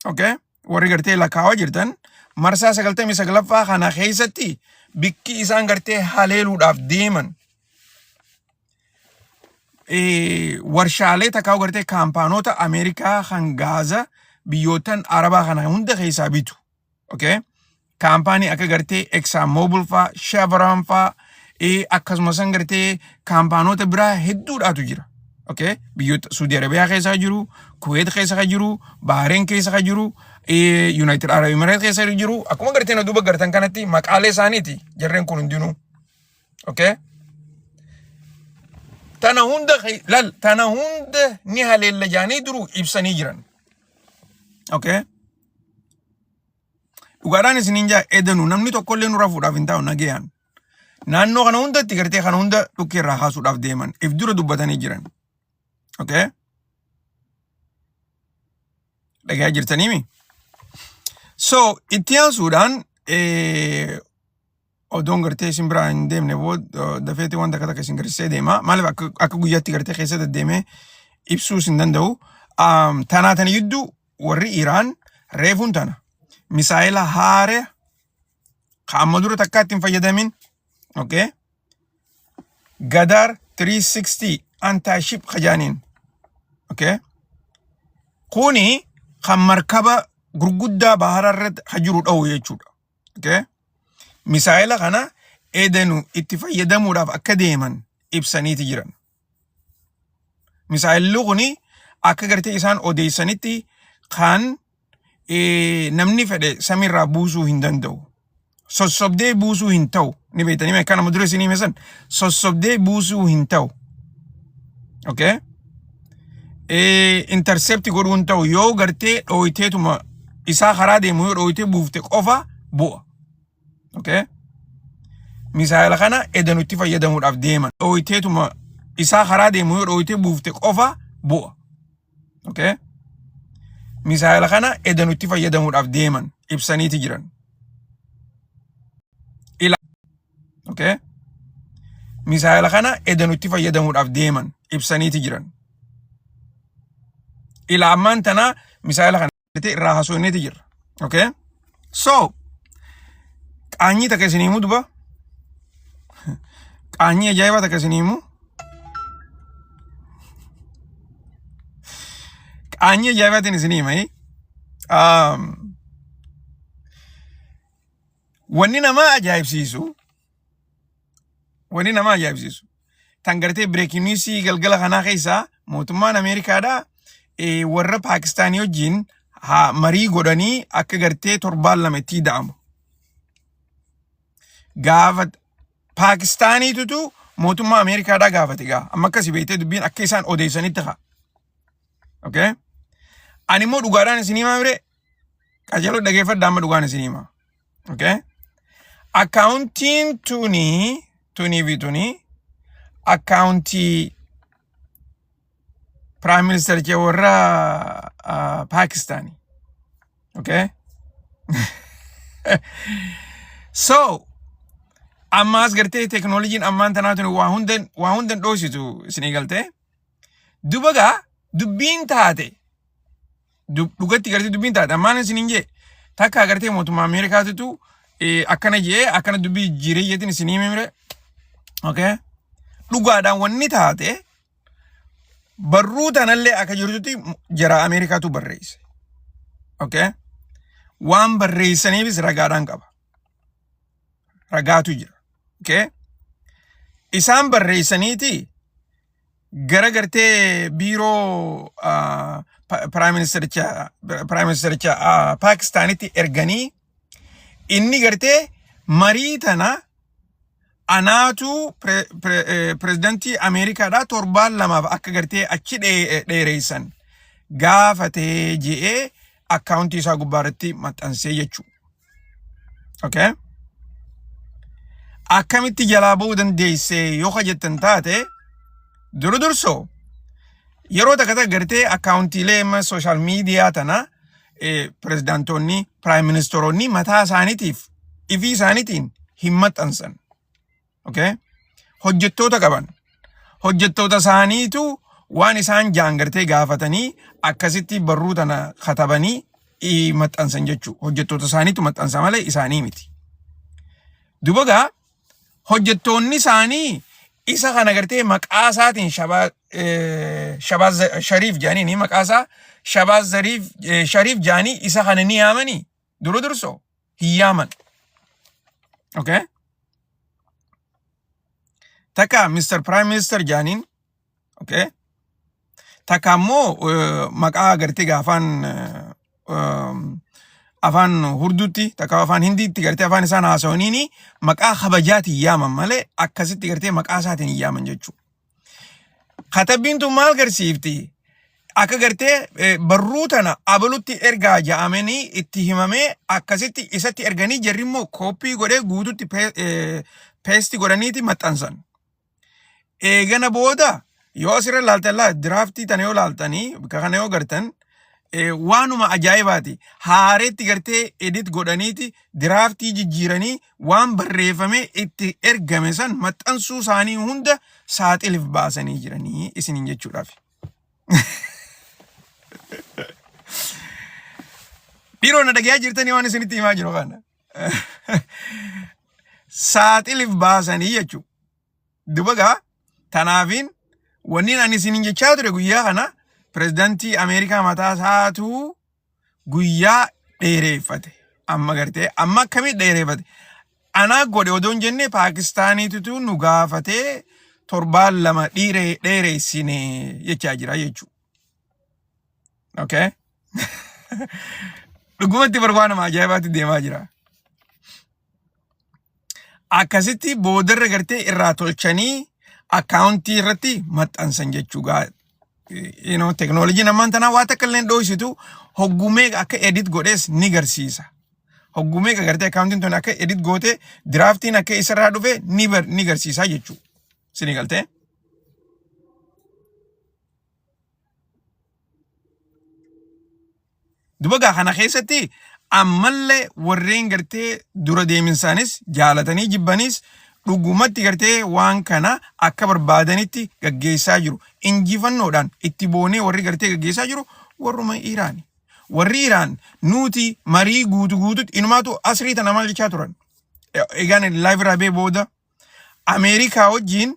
Okay? Warri gartee lakkaawaa jirtan marsaa sagaltamii saglaffaa kana keessatti bikki isaan gartee haleeluudhaaf deeman eh, warshaalee takkaa gartee kaampaanoota Ameerikaa kan Gaaza biyyootan Arabaa kana hunda keessaa bitu. okay? kaampaanii akka gartee Exxon Mobil faa, Chevron faa, eh, akkasumas san gartee kaampaanoota biraa hedduudhaatu jira. Okay? Biyyoota Suudi Arabiyaa keessa jiru, Kuweet keessa kan jiru, Bahareen keessa kan jiru, eh, United Arab Emirates keessa kan jiru. Akkuma gartee na duuba gartan kanatti maqaalee isaaniiti jarreen kun hundinuu. Okay? Tana hunda ke- lal tana hunda ni haleella jaanii duruu ibsanii jiran. Okay? Dhugaadhaan isiniin jaa edanu namni tokko illee nurra fuudhaaf hin taa'u nagayaan. Naannoo kana hundatti gartee kana hunda dhukkee irraa kaasuudhaaf deeman. If dura dubbatanii jiran. Okay? Dhagayaa jirtaniimi? So itti aansuudhaan eh, odoon gartee isin biraa hin deemne booda dafeeti wanta akka takka isin garsiisee deema. Maaliif akka akka guyyaatti gartee keessa deddeemee ibsuu isin danda'u. Aam, Tanaa tana gidduu warri Iraan reefuun tana misaa'ela haaree ka amma dura takkaatti hin fayyadamin okay? Gadaar 360 antaaship kajaaniin okay? kuni kan markaba gurguddaa bahara irratti ka jiru dha'u jechuudha. Okay? Misaa'ela kana edenu itti fayyadamuudhaaf akka deeman ibsaniiti jiran. Misaa'elli kun akka gartee isaan odeessanitti kan eh, namni fedhe samiirraa buusuu hin danda'u. Sossobdee buusuu hin ta'u. Ni beektanii mee akka nama dura isin hime san sossobdee buusuu hin ta'u. Okay? intercept godhuu hin ta'u yoo gartee dhooyteetuma isaa karaa deemu yoo dhooytee buufte qofa bu'a. Okay? Misaayila kana eda nutti fayyadamuudhaaf deeman dhooyteetuma isaa karaa deemu yoo dhooytee buufte qofa bu'a. Okay? Misaayila kana eda nutti fayyadamuudhaaf deeman ibsaniiti jiran. Okay? Misaayila kana edanutti fayyadamuudhaaf deeman ibsaniiti jiran. Ila ammaan tana misaayila kana irraa hasoonneeti jirra. Okay? So, qaanyii takka isin himuu duba. Qaanyii ajaa'ibaa takka isin himuu. Qaanyii ajaa'ibaatiin isin himai. Um, Wanni namaa ajaa'ibsiisu wanni namaa ajaa'ibsiisu tan gartee bireekiin niwusii galgala kanaa keessaa mootummaan Ameerikaadhaa eh, warra Paakistaanii wajjin haa marii godhanii akka gartee torbaan lama itti ida'amu. Gaafa Paakistaaniitutu mootummaa Ameerikaadhaa gaafate gaa amma akkasi beektee dubbiin akka isaan odeessanitti haa. Okay? Ani immoo dhugaadhaan isinii maamire Qajeeloo dhageeffadha amma dhugaan isin hima. Okay? Akkaawuntiin tunii tunii fi tunii akkaawuntii Prime Minister kee warra ah, Pakistaani. Okay? So, ammaas gartee teknooloojiin ammaan tanaa tuni waa hundan waa hundan dhoositu isinii galtee. Dubagaa dubbiin taate dub- dhugatti gartee dubbiin taate ammaan isin hin jee takka agartee mootummaa Ameerikaatitu eh, akkana jee akkana dubbii jijjiiree jeetiin isin himi mire okay dhugaadhaan wanni taate barruu tanallee akka jirtutti jara Ameerikaatu barreesse okay waan barreessaniifis ragaadhaan qaba ragaatu jira okay isaan barreessaniiti gara gartee biiroo ah, pa- piraayim ministericha piraayim ministericha ah, Paakistaanitti erganii inni gartee marii tana anaatu pre- pre- eh, pirezidantii Ameerikaadhaa torbaan lamaaf akka gartee achi dhee- dheereessan gaafatee je'ee akkaawuntii isaa gubbaarratti maxxansee jechuudha. Okay? Akkamitti jalaa ba'uu dandeesse yoo ka jettan taate duru dursoo yeroo takka takka gartee akkaawuntiilee amma sooshaal miidiyaa tana pirezidaantoonni piraayim ministeeronni mataa isaaniitiif ifii isaaniitiin hin maxxansan. okay? hojjettoota qaban hojjettoota isaaniitu waan isaan jaan gartee gaafatanii akkasitti barruu tana katabanii ii maxxansan jechuu hojjettoota isaaniitu maxxansa malee isaanii miti. Dubagaa hojjettoonni isaanii isa kana gartee maqaa isaatiin shabaa eh, shabaa Za- shariif jaanii ni maqaa isaa shabaa zariif eh, shariif jaanii isa kana ni yaamanii Duru durso hin yaaman. Okay? Takka Mr. Prime Minister jaaniin. Okay? Takka ammoo eh, maqaa gartee gaa afaan eh, um, afaan hurduutti takka afaan hindiitti gartee afaan isaan haasawaniini maqaa kabajaatiin yaaman malee akkasitti gartee maqaa isaatiin hin yaaman jechuudha. Katabbiin tun maal garsiifti? Akka gartee eh, barruu tana abalutti ergaa ja'amanii itti himamee akkasitti isatti erganii jarri immoo kooppii godhee guututti pee- eh, peesti godhaniiti maxxansan. Eegana booda yoo asirra laaltan laa diraaftii tana yoo laaltanii bakka kana yoo gartan eh, waanuma ajaa'ibaati. Haareetti gartee edit godhaniiti diraaftii jijjiiranii waan barreeffamee itti ergame san maxxansuu isaanii hunda saaxilif baasanii jiranii isiniin jechuudhaaf. Dhiiroo na dhagayaa jirtanii waan isinitti himaa jiru kana. Saaxilif baasanii jechuu. Dubagaa tanaafiin wanniin ani isiniin jechaa ture guyyaa kana pirezidantii Ameerikaa mataa isaatuu guyyaa dheereeffate amma gartee amma akkamii dheereeffate anaa godhe odoo hin jenne paakistaaniititu nu gaafatee torbaan lama dhiiree dheereessine jechaa jira jechuudha. Okay? Dhugumatti barbaa nama ajaa'ibaatti deemaa jira. akkasitti boodarra gartee irraa tolchanii akkaawuntii irratti maxxansan jechuudha. You know, teknooloojiin ammaan tanaa waa takka illee hin dhoysitu hoggumee akka edit godhees ni garsiisa. Hoggumee gartee akkaawuntiin tun akka edit goote diraaftiin akka isarraa dhufe ni bar- ni garsiisa jechuudha. Sini galtee? Dubagaa kana keessatti ammallee warreen gartee dura deeminsaanis jaalatanii jibbaniis dhugumatti gartee waan kana akka barbaadanitti gaggeessaa jiru. Injifannoodhaan itti boonee warri gartee gaggeessaa jiru warruma Iraani. Warri Iraan nuti marii guutu guututti inumaatu asrii tana maal jechaa turan. E- Egaan live irraa bee booda Ameerikaa wajjin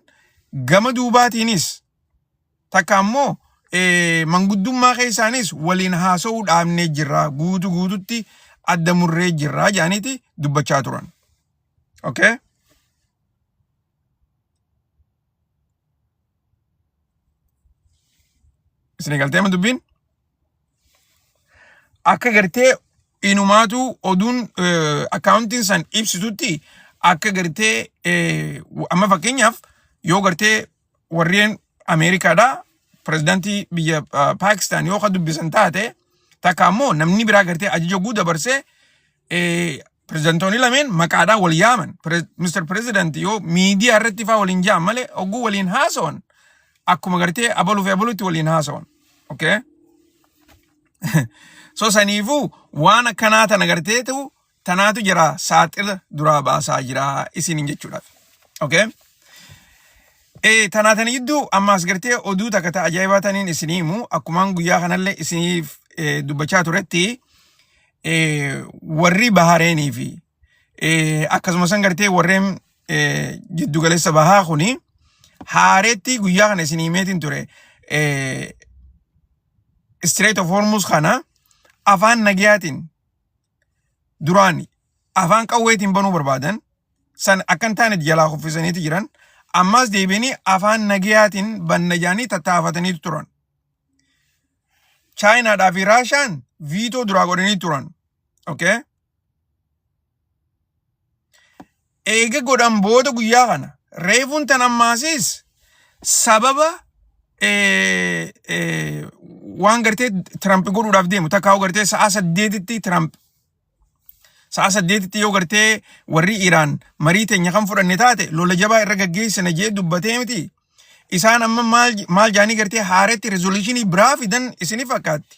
gama duubaatiinis takka ammoo manguddummaa keessaanis waliin haasa'uu dhaabnee jirra guutu guututti adda murree jirra jedhaniiti dubbachaa turan. Okay? Isin galtee ma dubbiin? Akka gartee inumaatu oduun akkaawuntiin san ibsitutti akka gartee amma fakkeenyaaf yoo gartee warreen Ameerikaadhaa pirezidantii biyya ah, Paakistaan yoo ka dubbisan taate takka ammoo namni biraa gartee ajaja guu dabarsee eh, pirezidantoonni lameen maqaadhaan wal yaaman Pirez- Mr. Pirezidanti yoo miidiyaa irratti faa waliin ja'an malee ogguu waliin haasawan akkuma gartee abaluu fi abaluutti waliin haasawan. Okay? so saniifuu waan akkanaa tana gartee ta'u tanaatu jira saaxila duraa baasaa jira isiniin jechuudhaaf. Okay? Ee tanaa tana jidduu ammaas gartee oduu takka ta'a ajaa'ibaa taniin isinii himu akkumaan guyyaa kanallee isiniif eh, dubbachaa turetti eh, warri bahareenii fi eh, akkasumas san gartee warreen eh, jiddugaleessa bahaa kuni haareetti guyyaa kana isinii himeetiin ture eh, Strait of Hormuz kana afaan nagayaatiin duraan afaan qawweetiin banuu barbaadan san akka hin taanetti jalaa kuffisaniiti jiran ammaas deebi'anii afaan nagayaatiin banna jedhanii tattaafataniitu turan. Chaayinaadhaa fi Raashaan viitoo duraa godhanii turan. Okay? Eega godhan booda guyyaa kana reefuun tan ammaasiis sababa waan gartee Tiraamp godhuudhaaf deemu takkaa gartee sa'a saddeetitti Tiraamp sa'a saddeetitti yoo gartee warri Iraan marii teenya kan fudhanne taate lola jabaa irra gaggeessina jee dubbatee miti. Isaan amma maal jaanii gartee haaretti rezoluushinii biraa fidan isini fakkaatti.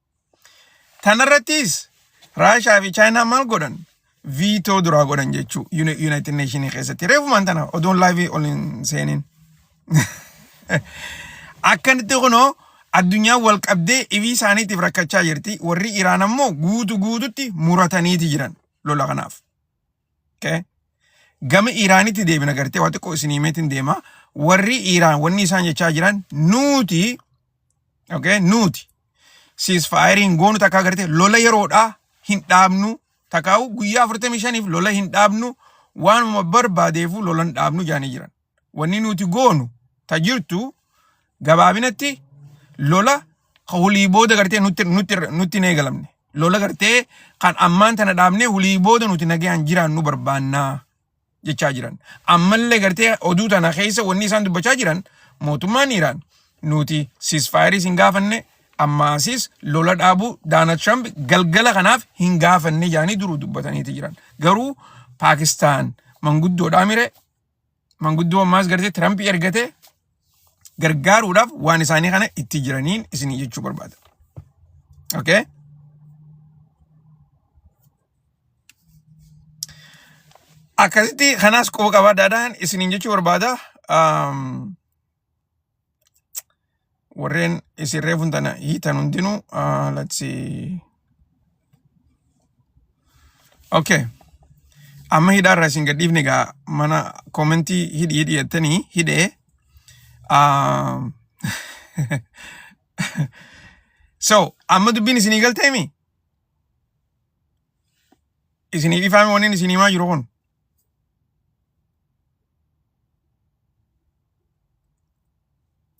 Tanarrattis Raashaa fi Chaayinaan maal godhan? Viitoo duraa godhan jechuu Yuunaayitid Neeshinii keessatti. Reefumaan tana oduun laayivii ol hin seenin. Akkanitti kunoo addunyaan wal qabdee ifii isaaniitiif rakkachaa jirti. Warri Iraan ammoo guutu guututti murataniiti jiran lola kanaaf. Okay? Gama Iiraanitti deebina gartee waa xiqqoo isin himeetiin deema. Warri Iiraan wanni isaan jechaa jiran nuuti okay? nuuti siis faayiriin goonu takka agartee lola yeroodhaa hin dhaabnu takkaa'u guyyaa 45f lola hin dhaabnu waanuma barbaadeefu lola hin dhaabnu jaanii jiran. wanni nuti goonu ta jirtu gabaabinatti lola ka hulii booda gartee nutti nutti nutti hin eegalamne lola gartee kan ammaan tana dhaabnee hulii booda nuti nagayaan jiraannu barbaannaa jechaa jiran ammallee gartee oduu tana keessa wanni isaan dubbachaa jiran mootummaan Iraan nuti sisfaayiris hin gaafanne ammaasis lola dhaabuu Daanald Tiraamp galgala kanaaf hin gaafanne jedhanii duruu dubbataniiti jiran garuu Paakistaan manguddoodhaa mire manguddoo ammaas gartee Tirampii ergatee gargaaruudhaaf waan isaanii kana itti jiraniin isinii jechuu barbaada. Okay? Akkasitti kanaas quba qabaadhaadhaan isiniin jechuu barbaada. Um, warreen isin reefun tana hiitan hundinuu uh, let's see okay amma hidhaarra isin gadhiifne egaa mana koomentii hidhi hidhi jettanii hidhee uh, so amma dubbiin isinii galteemi isinii dhifaame waniin isinii maa jiru kun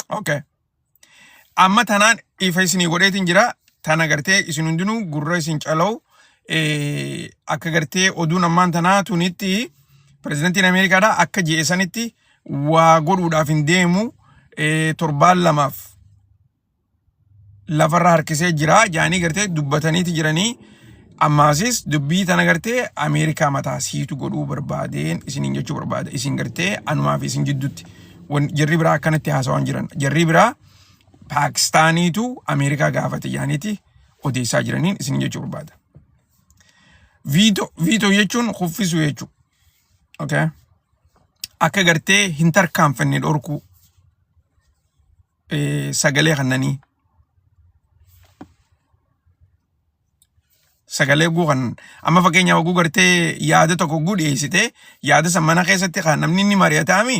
Okay. Amma tanaan ifa isinii godheetiin jira. Tana gartee isin hundinuu gurra isin cala'u eh, akka gartee oduun ammaan tanaa tunitti pirezidantiin Ameerikaadhaa akka je'e sanitti waa godhuudhaaf hin deemu eh, torbaan lamaaf lafarra harkisee jira jaanii gartee dubbataniiti jiranii ammaasis dubbii tana gartee Ameerikaa mataa siitu godhuu barbaadeen isiniin jechuu barbaada isin gartee anumaa fi isin jidduutti jarri biraa akkanatti haasawaan jiran jarri biraa Paakistaaniitu Ameerikaa gaafate jaaniiti odeessaa jiraniin isiniin jechuu barbaada. Viito viito jechuun kuffisuu jechuudha. Okay. Akka gartee hin tarkaanfanne dhorkuu. eh, sagalee kannanii sagalee guu kan amma fakkeenyaaf oguu gartee yaada tokko guu dhiyeessite yaada san mana keessatti kan namni inni mari'ataami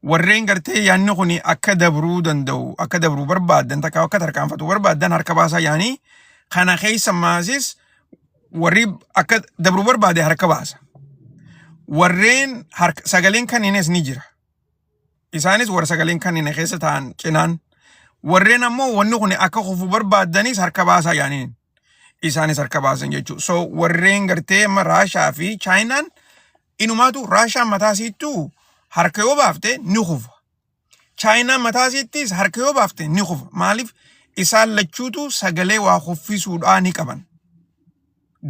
warreen gartee yaanni kun akka dabruu danda'u akka dabruu barbaaddan takka akka tarkaanfatu barbaaddan harka baasaa yaanii kana keessa maasis warri akka dabruu barbaade harka baasa warreen harka sagaleen kanniinis ni jira Isaanis warra sagaleen kanneen keessa taa'an cinaan warreen ammoo wanni kun akka kufu barbaaddanis harka baasaa yaaniin isaanis harka baasan jechuudha. So warreen gartee amma Raashaa fi Chaayinaan inumaatu Raashaan mataa isiittuu harka yoo baafte ni kufa. Chaayinaan mataa isiittis harka yoo baafte ni kufa. Maaliif isaan lachuutu sagalee waa kuffisuudhaa ni qaban.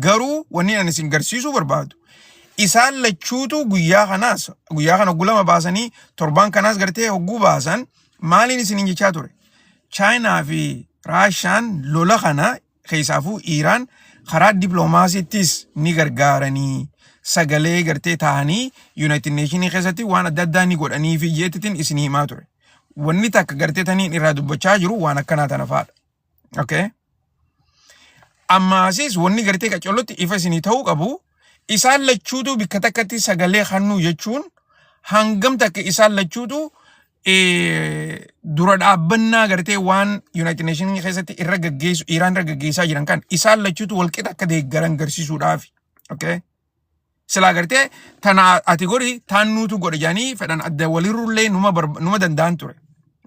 Garuu wanni ani isin garsiisuu barbaadu isaan lachuutu guyyaa kanaas guyyaa kana gulama baasanii torbaan kanaas gartee hogguu baasan maaliin isiniin jechaa ture. Chaayinaa fi Raashaan lola kana keessaafuu Iiraan karaa diploomaasiittis ni gargaaranii sagalee gartee taa'anii Yuunaayitid Neeshinii keessatti waan adda addaa ni godhanii fi jeetitiin isin himaa ture. Wanni takka gartee taniin irraa dubbachaa jiru waan akkanaa tana fa'aadha. Okay. Ammaasis wanni gartee qacollotti ifa isinii ta'uu qabu isaan lachuutu bikka takkatti sagalee hannuu jechuun hangam takka isaan lachuutu eh, dura dhaabbannaa gartee waan Yuunaayitid Neeshinii keessatti irra gaggeessu Iraan irra gaggeessaa jiran kan isaan lachuutu walqixa akka deeggaran garsiisuudhaafi. Okay. Silaa gartee tana ati godhi taan nuutu godhe jedhanii fedhan adda walirrullee numa barba- numa danda'an ture.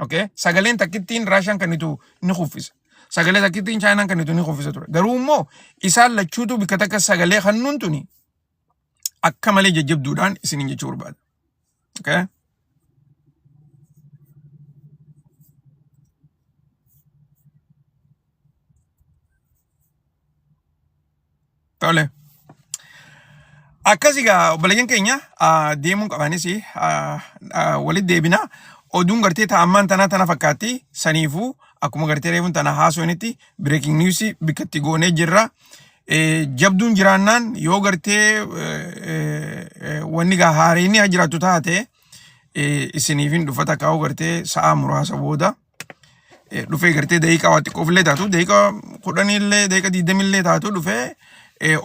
Okay? Sagaleen takkittiin Raashaan kennitu ni kuffisa. Sagalee takkittiin Chaayinaan kennitu ni kuffisa ture. Garuu immoo isaan lachuutu bikka takka sagalee kennuun tuni akka malee jajjabduudhaan isiniin jechuu barbaada. Okay? Tole. Akkasii gaa obboleeyyan keenya ah, deemuun qabanis ah, ah, walitti deebina. Oduun gartee taa'ammaan tanaa tana fakkaatti. Saniifuu akkuma gartee reefuun tana haasofnitti breaking news bikkatti goonee jirra. jabduun jiraannaan yoo gartee wanni gaa haareenni haa jiraattu taate isiniif hin dhufata kaa'u gartee sa'a muraasa booda dhufee gartee daqiiqaa waa xiqqoof illee taatu daqiiqaa kudhanii illee daqiiqaa digdamii illee taatu dhufee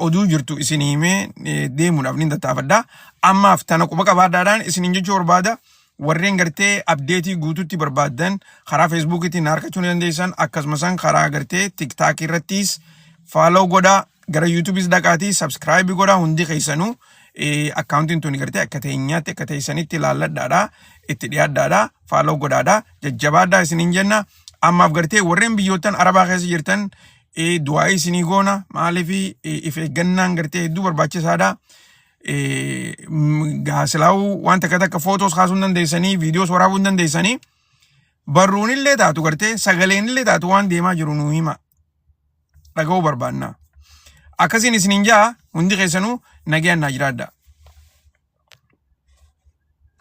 oduu jirtu isin himee deemuudhaaf ni tattaafadha. Ammaaf tana quba qabaadhaadhaan isiniin jechuu barbaada Warreen gartee abdeetii guututti barbaaddan karaa feesbuukiitiin na argachuu ni dandeessan akkasumas karaa gartee tiktaakii irrattis faaloo godhaa gara yuutuubis dhaqaatii sabskraayibii godhaa hundi keessanuu eh, akkaawuntiin tuni gartee akka teenyaatti akka teessanitti ilaalladhaadha itti dhiyaadhaadha faaloo godhaadha jajjabaadhaa isiniin jenna ammaaf gartee warreen biyyoottan arabaa keessa jirtan eh, du'aa'ii isinii goona maaliif eh, if eeggannaan gartee hedduu barbaachisaadha. gaasilaawuu waan takka takka footoos kaasuu hin dandeessanii viidiyoos waraabuu hin dandeessanii barruun illee taatu gartee sagaleen illee taatu waan deemaa jiru nuu hima dhaga'uu barbaanna akkasiin isiniin ja'a hundi keessanuu nagayaan naa jiraadha.